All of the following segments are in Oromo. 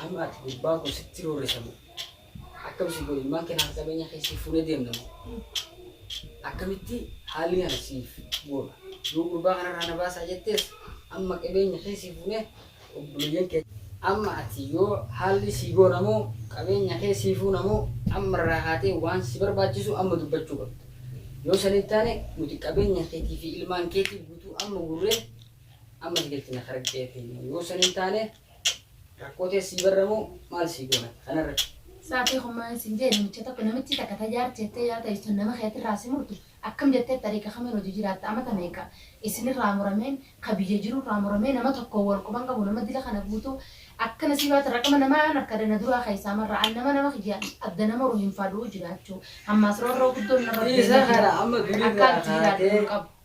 Amma ati gurbaa kun sitti roorrisa moo? Akkam si godhe ilmaan kanaaf qabeenya kee siif fuunee deemna moo? Akkamitti haalli kana siif goona? Yoo gurbaa kanarraa na baasaa jettees amma qabeenya kee siif fuunee obboleeyyan kee amma ati yoo haalli sii goona moo qabeenya kee sii fuuna moo amma irraa kaatee waan si barbaachisu amma dubbachuu qabda. Yoo sanii taane nuti qabeenya keetii fi ilmaan keetii guutuu amma gurree Amma si galchina kara qeetii immoo yoo san hin taane rakkoo ta'e sii barramoo maal sii goona kanarratti. Saatii homaa sin jee namicha tokko namichi takka tajaar jettee yaa ta'istu nama keetirraa si murtu akkam jettee xariiqa kamiin hojii jiraatta amata meeqa isinirraa murameen ka biyya jirurraa muramee nama tokko wal quban qabu nama dila kana guutuu akka nasiibaati raqama namaa an arka dana duraa keessaa marra an nama nama kiyya adda nama horu hin faaduu jiraachuu hammaas roorroo guddoon narra Dhiisa deemaa kana jira amma durirraa akkaan itti jiraadhu kaatee hin qabu.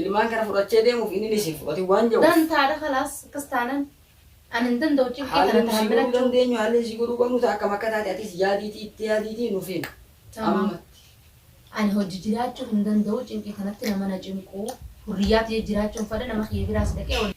Ilmaan kana fudhachee deemuuf inni ni si fudhati waan ja'uuf. Dantaadha kalaas akkas taanan ani hin danda'u cinqii Haalli kana nuti si godhuu tahammilachuu. dandeenyu haalli si godhuu qabnu ta'a akkam akka taate atis yaadiitii itti yaadiitii nuuf himi. Tamam. Ammatti. Ani hojji jiraachuu hin danda'u cinqii kanatti nama na cinquu. Hurriyyaa tiyya jiraachuun fadha nama kiyya biraas dhaqee waliin.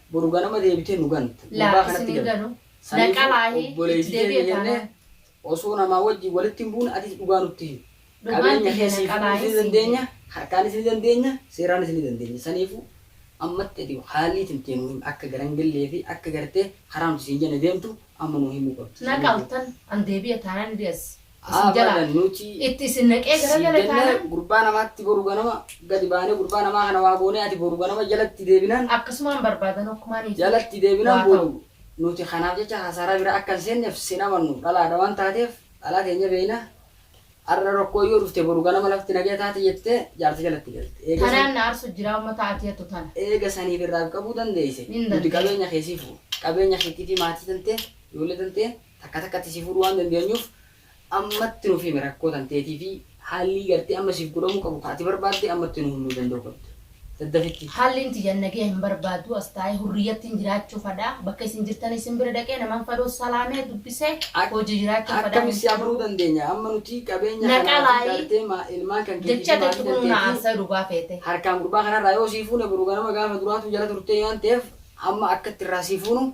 Boru ganama deebitee nu ganta. Gurbaa Laa kanatti isin hin galte. ganu. Saniifuu Dhaqqabaahi itti obboleeytii deebi'e teenya jennee taanaan. osoo namaa wajjin walitti hin buune atis dhugaa nutti himi. Dhugaan Qabeenya tiyya kee siif hidhuus dhaqqabaahi ni siin dandeenya, jedhe. harkaanis ni dandeenya, seeraanis ni dandeenya. Saniifuu ammatti ati haallii tantee nuu himi. Akka gara hin gallee fi akka gartee karaa nuti siin jenne deemtu amma nuu himuu qabda. Na Saniifuu. qaltan an deebi'e taanaan deessi. isin jalaa Abadan nuti itti isin naqee sii garagale jennee taanaan gurbaa namaatti boru ganama gadi baanee gurbaa namaa kana waa goonee ati boru ganama jalatti deebinaan akkasumaan barbaadan hokkumaan isin jalatti deebinaan waa ta'u. boodu nuti kanaaf jecha kasaaraa biraa akka hin seenneef sin amannu dhalaadha waan taateef dhalaa teenya beekna har'a rakkoon yoo dhufte boru ganama lafti nagaya taati jettee jaarsa jalatti galte eega san Tanaan na arsu jiraa ummata ati hattu tana. eega saniif irraa qabuu dandeeyse Hin nuti dandeeyse. qabeenya kee siif qabeenya keetii fi maatii tantee ijoollee tantee Takka takkatti si fuudhuu waan dandeenyuuf ammatti nuuf himi rakkoo tanteetii fi haallii gartee amma siif godhamuu qabu ka ati barbaadde ammatti nuu himuu danda'uu qabda. Daddafitti. Haallin tiyya nageya hin barbaadu as taa'ee hurriyyattin jiraachuu fadha. Bakka isin jirtan isin bira dhaqee naman fadoo salaamee dubbisee Ak, hojii jiraachuu fadha akkami hin si afuruu fedhu. dandeenya? Amma nuti qabeenya Na kanaa fi qalaayi. gartee ma, ilmaan kan keetii Jecha fi maatii teettu kunuu na tanteetii aarsaa dhugaa feete. harkaan gurbaa kanarraa yoo sii fuune boru ganama gaafa duraatuu jala turtee waan ta'eef amma akka itti irraa sii fuunu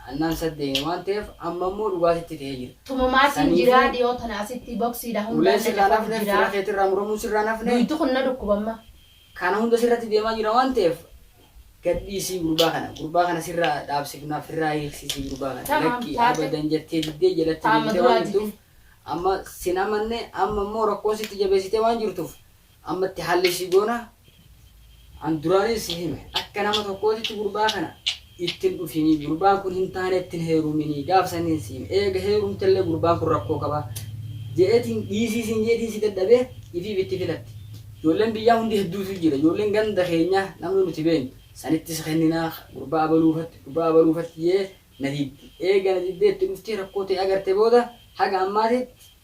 Annaan isa deeme waan ta'eef amma immoo dhugaa sitti ta'ee jira. Tumamaatiin Saniifuu jiraa dhiyoo tana asitti boksiidha ulee hundaan na sirraa hin cafaqu hafne, fira jiraa. keetirraa muramuun sirraa hin hafne. Duydi kun na dhukkuba amma. Kana hunda sirratti deemaa jira waan ta'eef gad dhiisii gurbaa kana. Gurbaa kana sirraa dhaabsifnaa, firraa hiiksisii gurbaa kana. Tamaam Lakkii taate abadan jettee diddee jalatti taama deebitee waan duraa jirtuuf jibin. amma sin amanne amma immoo rakkoo sitti jabeessitee waan jirtuuf Amma itti haalli ishii goona. An duraanii si hime. Akka nama tokkootitti gurbaa kana itti hin dhufinii. Gurbaan kun hin taane itti hin heeruminii. Gaaf saniin si hime. Eega heerumtellee gurbaan kun rakkoo qaba. Je'eetiin dhiisii siin je'eetiin si dadhabee ifiif itti filatti. Ijoolleen biyyaa hundi hedduutu jira. Ijoolleen ganda keenyaa namni nuti beennu. Sanitti si kenninaa gurbaa abaluu fatti gurbaa abaluu fatti je'ee na diddi. Eega na diddee itti dhuftee rakkoo tee agarte booda haga ammaatitti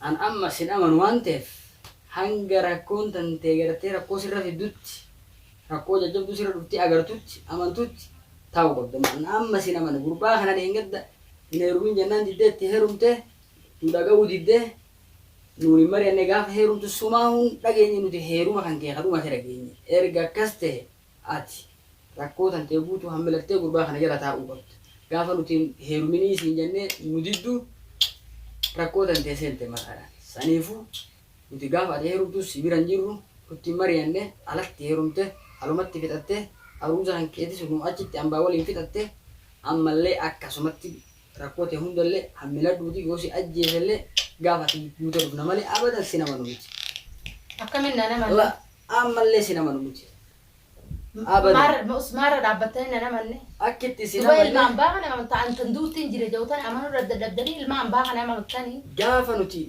An amma sin amanu waan ta'eef hanga rakkoon tantee gartee rakkoo sirra fiddutti, rakkoo jajjabduu sirra dhuftee agartutti, amantutti, taa'uu qabda. An amma sin amana. Gurbaa kana dheengadda hin heerumin jennaan diddee itti heerumte, nu dhaga'uu didde, nuun hin mari'anne gaafa heerumtu sumaahu hin dhageenye nuti heeruma kankee ka dhumate dhageenye. Erga akkas ta'e Ati rakkoo tantee guutuu hammilattee gurbaa kana jala taa'uu qabda. Gaafa nuti hin heeruminii siin jennee nu diddu rakkoo tantee seente maqaadhaan. Saniifuu nuti gaafa ati heerumtus si bira hin jirru, nutti hin mari'anne, alatti heerumte, alumatti fixatte, aruuza kankeetis nuu achitti ambaa waliin fixatte, ammallee akkasumatti rakkoo tee hundallee hammiladhuutii yoo si ajjeesellee gaafa ati duute dhufna malee abadan sin amanu miti. Akkamiin naan amantu? Ammallee isin amanu miti. Abadan. Maarra, nus maarra dhaabbattanii nan amanne? Akki itti isin Duba ilma amanne. ambaa kana ta an tan duutti hin jire jawtan amanuu daddadhabdanii ilma ambaa kana amamttanii? Gaafa nuti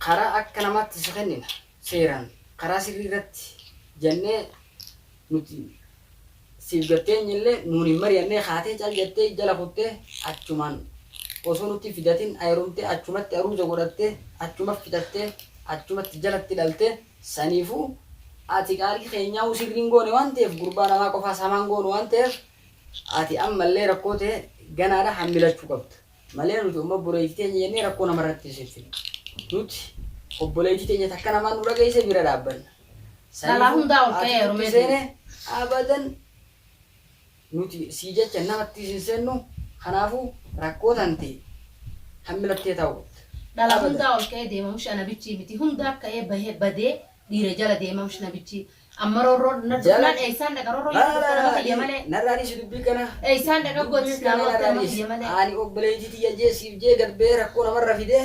karaa akka namaatti si kennina, seeraan, karaa sirrii irratti jannee nuti siif gad teenye illee nuun hin mari'annee kaatee cal jattee jala kuttee achumaan osoo nutti hin fidatin aerumtee achumatti aruuza godhattee achuma fixattee achumatti jalatti dhaltee Saniifuu ati qaalii keenyaa uu sihrii hin goone waan ta'eef gurbaa namaa qofaas hamaa hin goonu waan ta'eef ati ammallee rakkoo tee ganaadha hammilachuu qabda malee nuti umma obboleeytii teenya jennee rakkoo namarratti hin seensinu nuti obboleeytii teenya takka namaan nu dhageeyse bira dhaabbanna Dhalaa saniifuu hundaa ol ati ka'ee nutti heerumee seene abadan Nuti sii jecha namattis hin sennu kanaafu rakkoo tante kan milattee taut. Dhala hundaa ol ka'ee deema mshi ana bichii miti hundaa ka'ee bahee badee dhiira jala deema mshi na bichii amma rorroo na dubnaan eysaan dhaqa rorroo yoo dubte nama kiyya malee Narraa dhiisi dubbii kana eysaan dhaqa gootsi dubbii naa kana gootee narraa nama dhiisi kiyya malee. Ani obboleeytii tiyya jee siif jee gad bahee rakkoo namarra fidee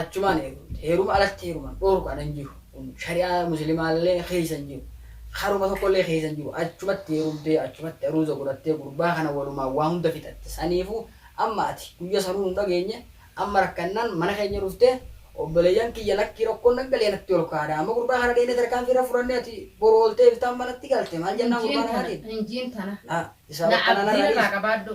achumaan eeguutti heeruma alatti heeruman dhoorkuan hin jiru kun shari'aa muslimaallee keessa hin jiru haruma tokkollee keessa hin jiru achumatti heerumtee achumatti aruuza godhattee gurbaa kana walumaan waa hunda fixatte saniifu amma ati guyya sanuu nu dhageenye amma rakkannaan mana keenya dhuftee obboleeyyan kiyya lakkii rakkoon naggalee natti ol kaadha amma gurbaa kana dheenee tarkaanfii irra fudhannee ati boru ooltee iftaan manatti galte maal jennaan gurbaa namaatiin Injiin tana. Laa, isaa Laa, bakka abdiin nanarraa irraa qabaadhu.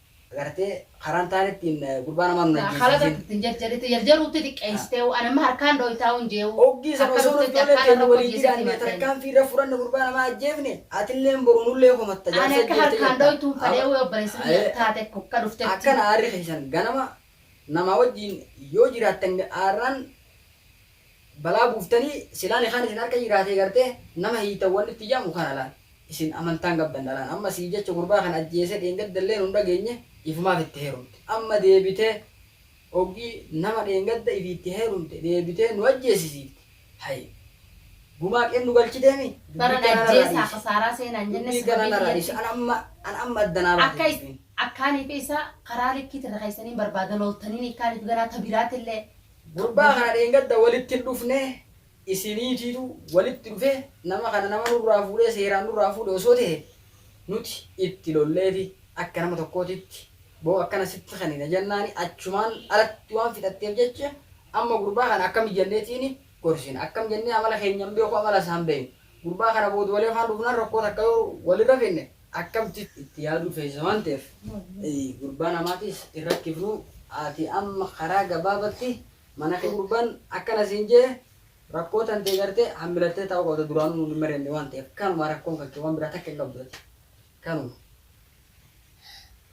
Gartee karaan taan ittiin gurbaa namaa nun Naa khalata ajjeesiisin. ittiin jarjaritti jarjaruutti xiqqeessiteewu an amma harkaan dhooytaa'u hin jeewu Oggii san akka osoo dhuftetti ijoollee harkaan teenya irra waliitii hojjeesitti dhaannee himadheen. tarkaanfii irra fudhanne gurbaa namaa ajjeefne atilleen boru nullee komatta ani jaarsa akka ajjeefte harkaan jetta. dhooytuun Aba- fadheewu obboleessa Aye. biyya taate ko akka dhuftetti akkana aarri keessan ganama namaa wajjiin yoo jiraattan aarraan Balaa buuftanii silaa nikaan isin harka jiraatee gartee nama hiitan wanni itti ja'amu kana laal isin amantaan qabdan dhalaan amma sii jecha gurbaa kana ajjeesee dheengadda illee nun dhageenye ifumaaf itti heerumte amma deebitee oggii nama dheengadda ifii itti heerumte deebitee nu ajjeesisiifti hay gumaa qeen nu galchiteemi dubbii kana narraa dhiisi dubbii kana narraa dhiisi an amma an amma adda naa baate dubbiin. Akkaanii fi isaa karaa likkiit irra keessaniin barbaada looltaniin ikkaaniif ganaa ta biraatillee Gurbaa kana dheengadda walitti hin dhufne isiniitiitu walitti dhufe nama kana nama nurraa fuudhee seeraan nurraa fuudhe osoo ta'e nuti itti lolleefi akka nama tokkootitti boo akkana sitti kennina jennaani achumaan alatti waan fixatteef jecha amma gurbaa kana akkami jenneetiini gorsina akkam jennee amala keenya hin beeku amala isaa hin beeknu gurbaa kana booda wali afaan dhufnaan rakkoo takka yoo walirra finne akkamti itti yaaduu feesisa waan ta'eef gurbaa namaatiis hin rakkifnu ati amma karaa gabaabatti mana kee gurbaan akkana siin je'e rakkoo tantee gartee hammilattee taa'uu qabda duraanuu nuun hin mari'anne waan ta'eef kanuma rakkoon kan kee waan biraa takka hin qabdu ati kanuma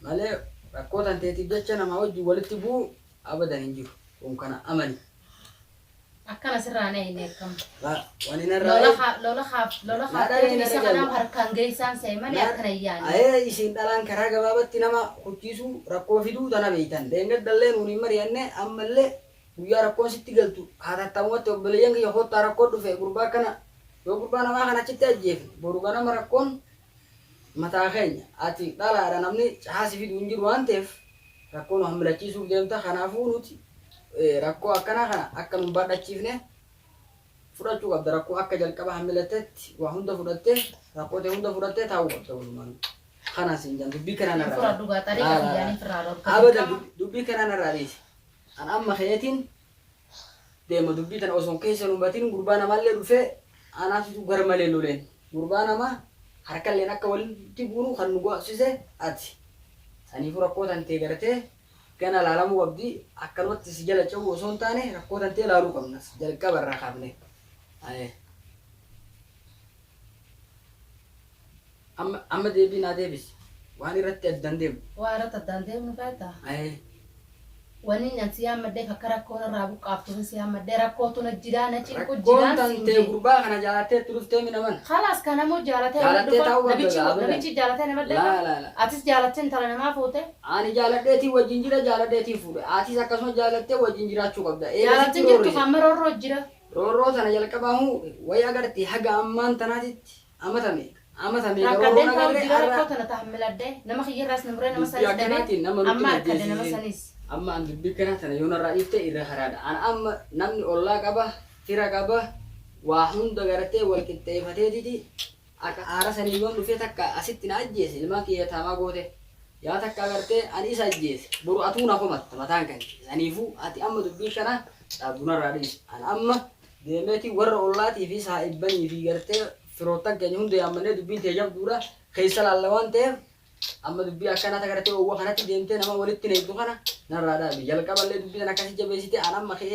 malee rakkoo tanteetiif jecha namaa wajjin walitti bu'uu abadan hin jiru kun kana amani. Akkana sirraa na inni akkam. Ba, wani na Lola rae. ha- lola ha- lola Naa haatteetu dhalee na isa kanaaf jajalla. harkaan geessaan se'e malee akkana hin yaanne. Ayee isin dhalaan karaa gabaabatti nama kuchiisuu rakkoo fiduu tana beeytan. Dheengadhallee nuun hin mari'anne ammallee guyyaa rakkoon sitti galtu haatattamumatti obboleeyyan kiyya koottaa rakkoo dhufe gurbaa kana yoo gurbaa namaa kana achitti ajjeefne boru ganama rakkoon mataa keenya ati dhalaadha namni cahaa si fidu hin jiru waan ta'eef rakkoo nu hammilachiisuuf deemta kanaafuu nuti rakkoo akkanaa kana akka nun baadhachiifne fudhachuu qabda rakkoo akka jalqaba hammilattetti waa hunda fudhattee rakkoo ta'e hunda fudhattee taa'uu qabda walumaan kanaan siin jedhan dubbii kanaan irraa Fudhadhu gaa xariiqa kiyyaan hin firraa dhorkatu. abada dubbii kanaan irraa dhiise an amma keetiin deema dubbii tana osoo keessa hin hubatin gurbaa namaallee dhufee anaa situ garmalee loleen gurbaa namaa harkalleen akka walitti buunu kan nu go'sise ati saniifuu rakkoo tantee gartee gana laalamuu qabdi akkanumatti si jala ce'uu osoo hin taane rakkoo tantee laaluu qabna jalqaba irraa kaafne. Amma amma deebii naa deebisi. Waan irratti addaan deemnu. Waan irratti addaan deemnu feetaa? Ee. Wanni an si yaammadheef akka rakkoo narraa buqqaaftuufin si yaammadhee rakkootu na jiraa na cinqu Rakkoon jiraan siin tantee jee. gurbaa kana jaalattee itti dhuftee mi na mana. Kalaas kan ammoo jaalatee nama Jaalattee dhufa. taa'uu qabda Nabichi gaa abadan. nabichi jaalatee nama Laa dhufa. laa laa. Atis jaalattee intala namaa fuute. Ani jaaladheetiin wajjin jira jaaladheetiin fuudhe. Atis akkasuma jaalattee wajjin jiraachuu qabda. Eega Jaalattin sitti jirtu roorree. amma roorroo jira. Roorroo tana jalqabaa huu wayi agartee haga ammaan tanaatitti Amata meeqa? Amata meeqa Rakkadhee woroona taa'u galle jira har'a rakkoo tana tahammiladhee nama kiyyarraas na muree nama dubbii sanis dhabee akkanaatiin nama nutti amma hin harkadhe nama ajjeesisin. sanis. Amma an dubbii akkanaa tana yoo narraa dhiifte irra karaadha. An amma namni ollaa qaba, fira qaba, waa hunda gartee wal qixxeefateetiti akka aara sanii yoon dhufee takka asitti na ajjeese ilmaan kiyya yataamaa goote. Yaa takka gartee an isa ajjeese boru atuu na komatta mataan kan kee. Saniifuu ati amma dubbii kana cabdu narraa dhiisi. An amma deemeeti warra ollaatii fi saahibbanii fi gartee firoottan keenya hunda yaammannee dubbiin tee jabduudha keessa laalla waan ta'eef amma dubbii akkanaa ta gartee oowwa kanatti deemtee nama walitti neeyxu kana narraa dhaabi jalqaballee dubbii tan akkasi jabeessite an amma ka'ee